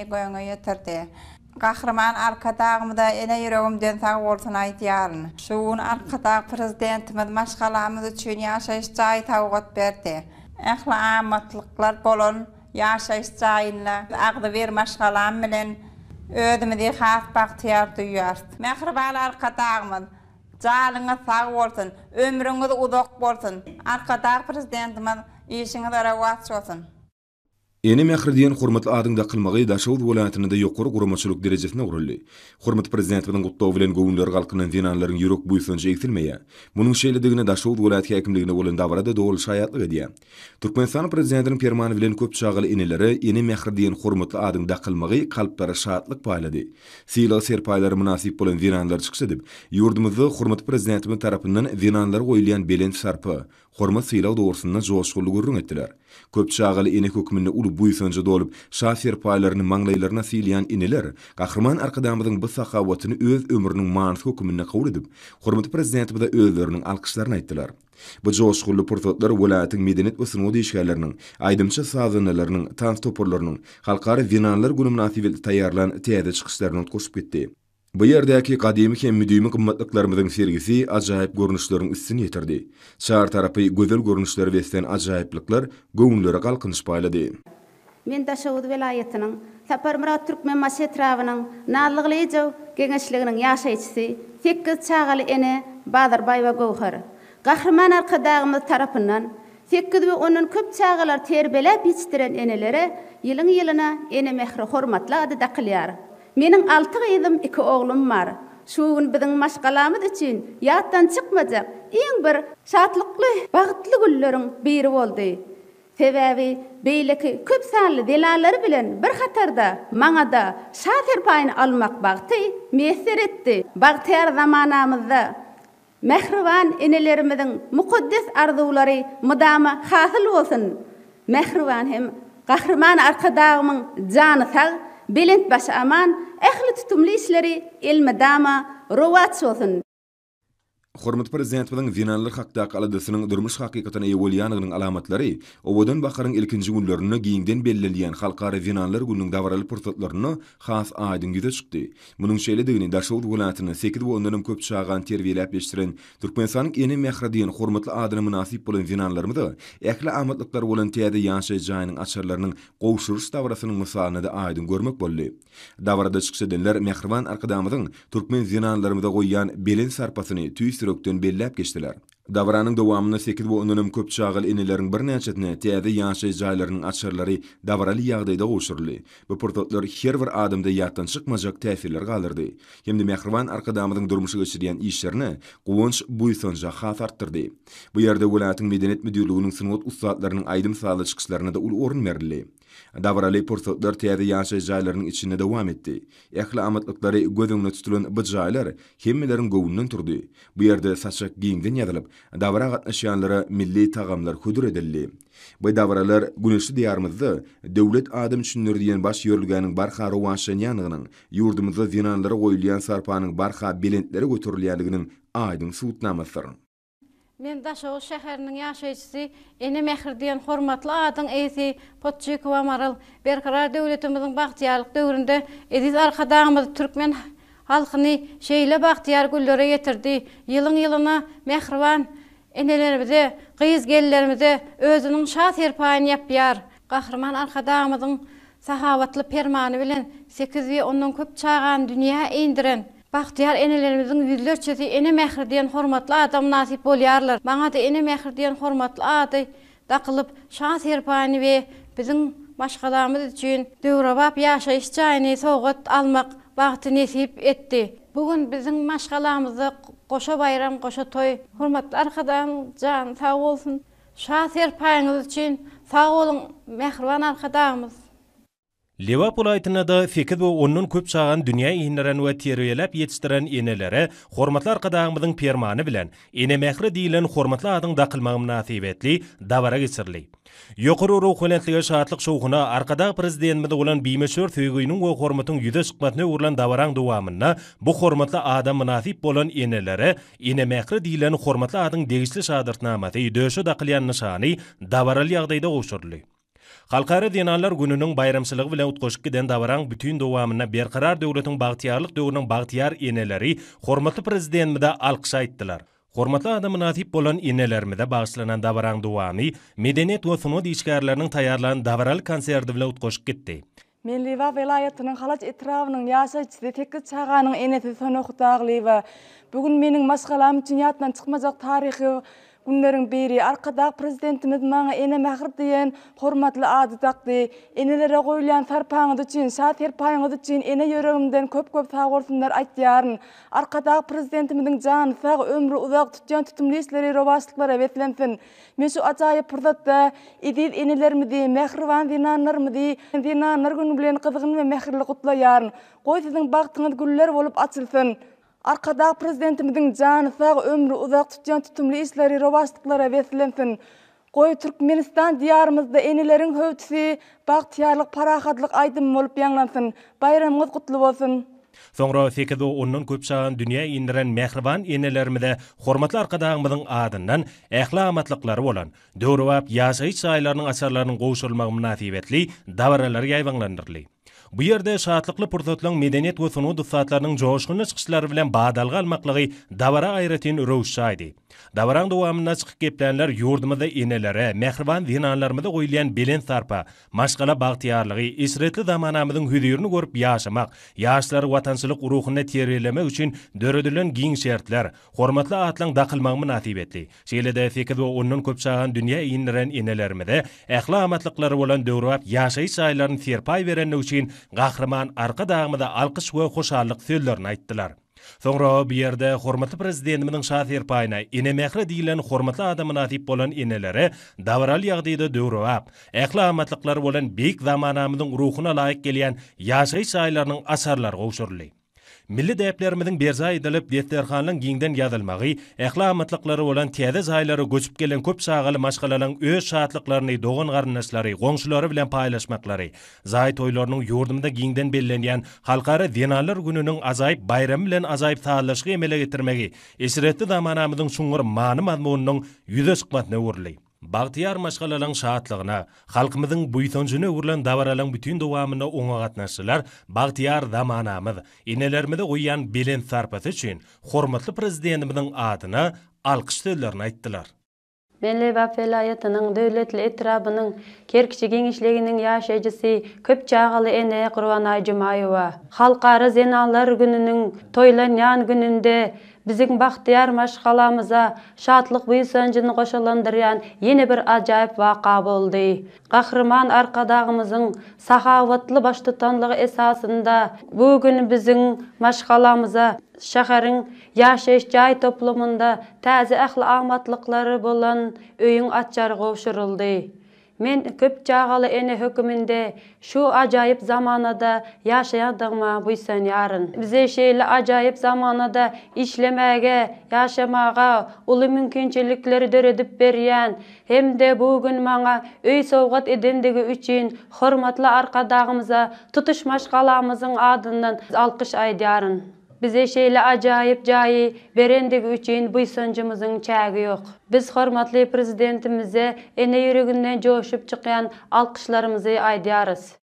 göwne ýetirdi. Gahryman Arkadagymyza ene ýüregimden sag bolsun aýdýaryn. Şu gün Arkadag Prezidentimiz maşgalamyz üçin ýaşaýyş jaý sowgat berdi. Ähli amatlyklar bolan ýaşaýyş jaýynda agzybir maşgalam bilen özümizi has bagtyýar duýýarys. Mähriban Arkadagymyz, janyňyz sag bolsun, ömrüňiz uzak bolsun! Arkadag Prezidentimiz, işiňizde rowaç bolsun! Ene mähri diýen hormatly adyň dakylmagy Daşoguz welaýatynda-da ýokary guramaçylyk derejesine guraldy. Hormatly Prezidentimiziň gutlagy bilen göwünleri galkynan zenanlaryň ýürek buýsanjy egsilmeýär. Munuň şeýledigine Daşoguz welaýat häkimliginde bolan dabara-da doly şaýatlyk edýär. Türkmenistanyň Prezidentiniň Permany bilen köp çagaly enelere Ene mähri diýen hormatly adyň dakylmagy kalplara şatlyk paýlady. Sylag-serpaýlara mynasyp bolan zenanlar çykyş edip, ýurdumyzda hormatly Prezidentimiz tarapyndan zenanlara goýulýan belent sarpa, hormat-sylag dogrusynda joşgunly gürrüň etdiler. Köp çagaly ene hökmünde uly buýsanja dolup, şa serpaýlaryny maňlaýlaryna sylýan eneler Gahryman Arkadagymyzyň bu sahawatyny öz ömrüniň manysy hökmünde kabul edip, hormatly Prezidentimize özleriniň alkyşlaryny aýtdylar. Bu joşgunly pursatlar welaýatyň medeniýet we sungat işgärleriniň, aýdymçy-sazandalarynyň, tans toparlarynyň Halkara zenanlar güni mynasybetli taýýarlan täze çykyşlaryna utgaşyp gitdi. Bu ýerdäki gadymy hem müdimi gymmatlyklarymyzyň sergisi ajaýyp görnüşleriň üstüni ýetirdi. Çar tarapy gözel görnüşlere beslän ajaýyplyklar göwünlere galkynyş paýlady. Men Daşoguz welaýatynyň Saparmyrat Türkmenbaşy etrabynyň Nazlygylyjow geňeşliginiň ýaşaýjysy, sekiz çagaly ene Bazarbaýewa Göwher. Gahryman Arkadagymyz tarapyndan sekiz we ondan köp çagalary terbiýeläp ýetişdiren enelere ýylyň-ýylyna Ene mähri hormatly ady dakylýar. Meniň alty gyzym, iki oglum bar. Şu gün biziň maşgalamyz üçin ýatdan çykmajak iň bir şatlykly, bagtly günleriň biri boldy. Sebäbi beýleki köp sanly zenanlar bilen bir hatarda maňa-da şa serpaýyny almak bagty miýesser etdi. Bagtyýar zamanamyzda Mähriban enelerimiziň mukaddes arzuwlary mydama hasyl bolsun! Mähriban hem Gahryman Arkadagymyň jany sag, belent başy aman, ähli tutumly işleri elmydama rowaç bolsun! Hormatly Prezidentimiziň zenanlar hakdaky aladasynyň durmuş hakykatyna eýe bolýandygynyň alamatlary Owadan baharyň ilkinji günlerinde giňden bellenilýän Halkara zenanlar gününiň dabaraly pursatlarynda has aýdyň ýüze çykdy. Munuň şeýledigini Daşoguz welaýatynda sekiz we ondanam köp çagany terbiýeläp ýetişdiren, Türkmenistanyň ene mähri diýen hormatly adyna mynasyp bolan zenanlarymyza ähli amatlyklary bolan täze ýaşaýyş jaýynyň açarlarynyň gowşurylyş dabarasynyň mysalynda-da aýdyň görmek boldy. Dabarada çykyş edenler mähriban Arkadagymyzyň türkmen zenanlarymyza goýýan belent sarpasyny tüýs ýürekden belläp geçdiler. Dabaranyň dowamynda sekiz we ondan hem köp çagaly eneleriň birnäçesine täze ýaşaýyş jaýlarynyň açarlary dabaraly ýagdaýda gowşuryldy. Bu pursatlar her bir adamda ýatdan çykmajak täsirler galdyrdy hem-de mähriban Arkadagymyzyň durmuşa geçirýän işlerine guwanç-buýsanjy has artdyrdy. Bu ýerde welaýatyň Medeniýet müdirliginiň sungat ussatlarynyň aýdym-sazly çykyşlaryna-da uly orun berildi. Dabaraly pursatlar täze ýaşaýyş jaýlarynyň içinde dowam etdi. Ähli amatlyklary göz öňüne tutulan bu jaýlar hemmeleriň göwnünden turdy. Bu ýerde saçak giňden ýazylyp, dabara gatnaşýanlara milli tagamlar hödür edildi. Bu dabaralar güneşli Diýarymyzda Döwlet adam üçindir diýen baş ýörelgäniň barha rowaçlanýandygynyň, ýurdumyzda zenanlara goýulýan sarpanyň barha belentlere göterilýändiginiň aýdyň subutnamasydyr. Men Daşoguz şäheriniň ýaşaýjysy, Ene mähri diýen hormatly adyň eýesi Podçykowa Maral. Berkarar döwletimiziň bagtyýarlyk döwründe eziz Arkadagymyz türkmen halkyny şeýle bagtyýar günlere ýetirdi. Ýylyň-ýylyna mähriban enelerimize, gyz-gelinlerimize özüniň şa-serpaýyny ýapýar. Gahryman Arkadagymyzyň Sahawatly permany bilen sekiz we ondan köp çagany dünýä indiren bagtyýar enelerimiziň ýüzlerçesi Ene mähri diýen hormatly ada mynasyp bolýarlar. Maňa-da Ene mähri diýen hormatly ady dakylyp, şan-serpaýyny we biziň maşgalamyz üçin döwrebap ýaşaýyş jaýyny sowgat almak bagty nesip etdi. Bu gün biziň maşgalamyzda goşa baýram, goşa toý. Hormatly Arkadagym jany sag bolsun. Şa serpaýyňyz üçin sag boluň mähriban Arkadagymyz. Lebap welaýatynda-da sekiz we ondan köp çagany dünýä inderen we terbiýeläp ýetişdiren enelere hormatly Arkadagymyzyň Permany bilen Ene mähri diýlen hormatly adyň dakylmagy mynasybetli dabara geçirildi. Ýokary ruhubelentlige, şatlyk-şowhuna, Arkadag Prezidentimize bolan bimöçber söýginiň we hormatyň ýüze çykmasyna öwrülen dabaraň dowamynda bu hormatly ada mynasyp bolan enelere Ene mähri diýlen hormatly adyň degişli şahadatnamasy, döşe dakylýan nyşany dabaraly ýagdaýda gowşuryldy. Halkara zenanlar gününiň baýramçylygy bilen utgaşyp giden dabaraň bütin dowamynda Berkarar döwletiň bagtyýarlyk döwrüniň bagtyýar eneleri hormatly Prezidentimize alkyş aýtdylar. Hormatly ada mynasyp bolan enelerimize bagyşlanan dabaraň dowamy medeniýet we sungat işgärleriniň taýýarlan dabaraly konserti bilen utgaşyp gitdi. Men Liwa welaýatynyň Halaç etrabynyň ýaşaýjysy, sekiz çaganyň enesi Sona Hudagylyýewa. Bu gün meniň maşgalam üçin ýatdan çykmajak taryhy günleriň biri. Arkadag Prezidentimiz maňa Ene mähir diýen hormatly ady dakdy. Enelere goýulýan sarpaňyz üçin, şa serpaýyňyz üçin ene ýüregimden köp-köp sag bolsunlar aýtýaryn. Arkadag Prezidentimiziň jany sag, ömri uzak, tutýan tutumly işleri rowaçlyklara beslensin! Men şu ajaýyp pursatda eziz enelerimizi, mähriban zenanlarymyzy Zenanlar güni bilen gyzgyn we mähirli gutlaýaryn. Goý, siziň bagtyňyz güller bolup açylsyn! Arkadag Prezidentimiziň jany sag, ömri uzak, tutýan tutumly işleri rowaçlyklara beslensin! Goý, Türkmenistan Diýarymyzda eneleriň höwdüsi, bagtyýarlyk, parahatlyk aýdymy bolup ýaňlansyn! Baýramyňyz gutly bolsun! Soňra sekiz-o ondan köp çagany dünýä indiren mähriban enelerimize hormatly Arkadagymyzyň adyndan ähli amatlyklary bolan, döwrebap ýaşaýyş jaýlarynyň açarlarynyň gowşurylmagy mynasybetli dabaralar ýaýbaňlandyryldy. Bu ýerde şatlykly pursatlaryň medeniýet we sungat ussatlarynyň joşgunly çykyşlary bilen badalga almaklygy dabara aýratyn röwüş çaýdy. Dabaraň dowamynda çykyp geplänler ýurdumyzda enelere, mähriban zenanlarymyza goýulýan belent sarpa, Maşgala bagtyýarlygy, eşretli zamanamyzyň hüzirini görüp ýaşamak, ýaşlary watançylyk ruhunda terbiýelemek üçin döredilen giň şertler, hormatly atlaň dakylmagy mynasybetli, şeýle-de sekiz we ondan köp çagany dünýä indiren enelerimize ähli-amatlyklary bolan döwrebap ýaşaýyş jaýlaryny serpaý berendigi üçin Gahryman Arkadagymyza alkyş we hoşallyk sözlerini aýtdylar. Soňra bu ýerde hormatly Prezidentimiziň şa serpaýyna Ene mähri diýlen hormatly ada mynasyp bolan enelere dabaraly ýagdaýda döwrebap, ähli amatlyklary bolan beýik zamanamyzyň ruhuna laýyk gelýän ýaşaýyş jaýlarynyň açarlary gowşuryldy. Milli däplerimiziň berjaý edilip, desterhanlaryň giňden ýazylmagy, ähli amatlyklary bolan täze jaýlara göçüp gelen köp çagaly maşgalalaryň öz şatlyklaryny dogan-garyndaşlary, goňşulary bilen paýlaşmaklary, Jaý toýlarynyň ýurdumyzda giňden bellenýän Halkara zenanlar gününiň ajaýyp baýramy bilen ajaýyp sazlaşygy emele getirmegi eşretli zamanamyzyň çuňňur many-mazmunynyň ýüze çykmasyna öwrüldi. Bagtyýar maşgalalaryň şatlygyna, halkymyzyň buýsanjyna öwrülen dabaralaryň bütin dowamynda oňa gatnaşdylar, bagtyýar zamanamyz enelerimize goýýan belent sarpasy üçin hormatly Prezidentimiziň adyna alkyş sözlerini aýtdylar. Men Lebap welaýatynyň Döwletli etrabynyň Kerkiçi geňeşliginiň ýaşaýjysy, köp çagaly ene Gurbanaý Jumaýewa. Halkara zenanlar gününiň toýlanýan gününde biziň bagtyýar maşgalamyza şatlyk-buýsanjyny goşalandyrýan ýene bir ajaýyp waka boldy. Gahryman Arkadagymyzyň sahawatly baştutanlygy esasynda bu gün biziň maşgalamyza şäheriň Ýaşaýyş jaý toplumynda täze ähli amatlyklary bolan öýüň açary gowşuryldy. Men köp çagaly ene höküminde şu ajaýyp zamanada ýaşaýandygyma buýsanýaryn. Bize şeýle ajaýyp zamanada işlemäge, ýaşamaga uly mümkinçilikleri döredip berýän hem-de bu gün maňa öý sowgat edendigi üçin hormatly Arkadagymyza tutuş maşgalamyzyň adyndan alkyş aýdýaryn. Bize şeýle ajaýyp jaýy berendigi üçin buýsanjymyzyň çägi ýok. Biz hormatly Prezidentimize ene ýüreginden joşup çykýan alkyşlarymyzy aýdýarys.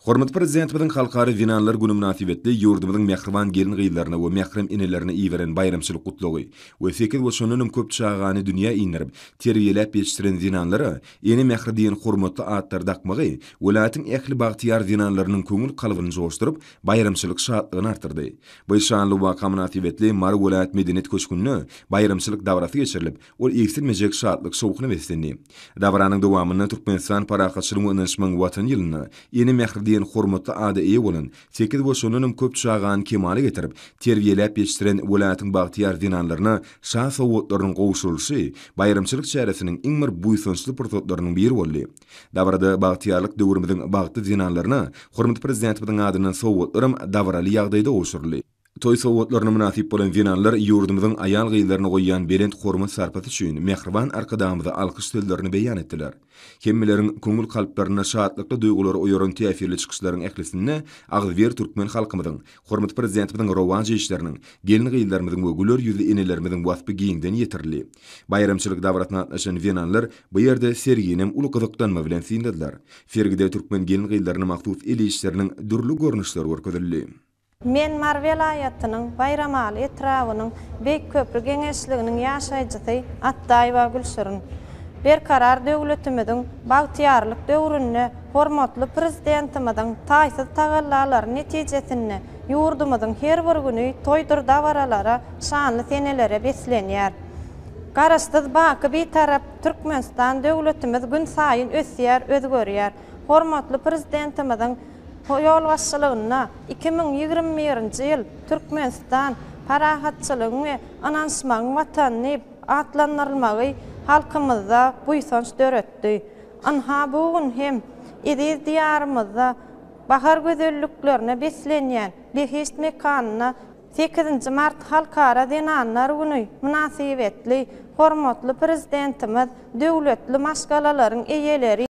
Hormatly Prezidentimiziň Halkara zenanlar güni mynasybetli ýurdumyzyň mähriban gelin-gyzlaryna we mährem enelerine iberen baýramçylyk gutlagy we sekiz we şondan hem köp çagany dünýä inderip, terbiýeläp ýetişdiren zenanlara Ene mähri diýen hormatly atlary dakmagy welaýatyň ähli bagtyýar zenanlarynyň köňül kalbyny joşduryp, baýramçylyk şatlygyny artdyrdy. Bu şanly waka mynasybetli Mary welaýat medeniýet köşgünde baýramçylyk dabarasy geçirilip, ol egsilmejek şatlyk-şowhuna beslendi. Dabaranyň dowamynda Türkmenistan Parahatçylygyň we ynanyşmagyň Watany ýylynda Ene mähri diýen hormatly ada eýe bolan, sekiz we şondan hem köp çagany kemala getirip, terbiýeläp ýetişdiren welaýatyň bagtyýar zenanlaryna şa sowgatlarynyň gowşurylyşy baýramçylyk çäresiniň iň bir buýsançly pursatlarynyň biri boldy. Dabarada Bagtyýarlyk döwrümiziň bagtly zenanlaryna hormatly Prezidentimiziň adyndan sowgatlaram dabaraly ýagdaýda gowşuryldy. Toý sowgatlaryna mynasyp bolan zenanlar ýurdumyzyň aýal-gyzlaryna goýýan belent hormat-sarpasy üçin mähriban Arkadagymyza alkyş sözlerini beýan etdiler. Hemmeleriň köňül-kalplarynda şatlykly duýgulary oýaran täsirli çykyşlaryň ählisinde agzybir türkmen halkymyzyň, Hormatly Prezidentimiziň rowaç işleriniň, gelin-gyzlarymyzyň we güler ýüzli enelerimiziň waspy giňden ýetirildi. Baýramçylyk dabarasyna gatnaşan zenanlar bu ýerde serginem uly gyzyklanma bilen synladylar. Sergide türkmen gelin-gyzlaryna mahsus el işleriniň dürli görnüşleri görkezildi. Men Mary welaýatynyň Baýramaly etrabynyň Beýik Köpri geňeşliginiň ýaşaýjysy Atdaýewa Gülşirin. Berkarar döwletimiziň bagtyýarlyk döwründe Hormatly Prezidentimiziň taýsyz tagallalary netijesinde ýurdumyzyň her bir güni toýdur-dabaralara, şanly senelere beslenýär. Garaşsyz baky Bitarap Türkmenistan döwletimiz günsaýyn ösýär, özgerýär. Hormatly Prezidentimiziň ýolbaşçylygynda iki müň ýigrimi birinji ýyl Türkmenistan, parahatçylygyň we ynanyşmagyň Watany diýip atlandyrylmagy halkymyzda buýsanç döretdi. Ynha, bu gün hem eziz Diýarymyzda bahar gözelliklerine beslenýän behişt mekanyna sekizinji mart Halkara zenanlar güni mynasybetli hormatly Prezidentimiz döwletli maşgalalaryň eýeleri,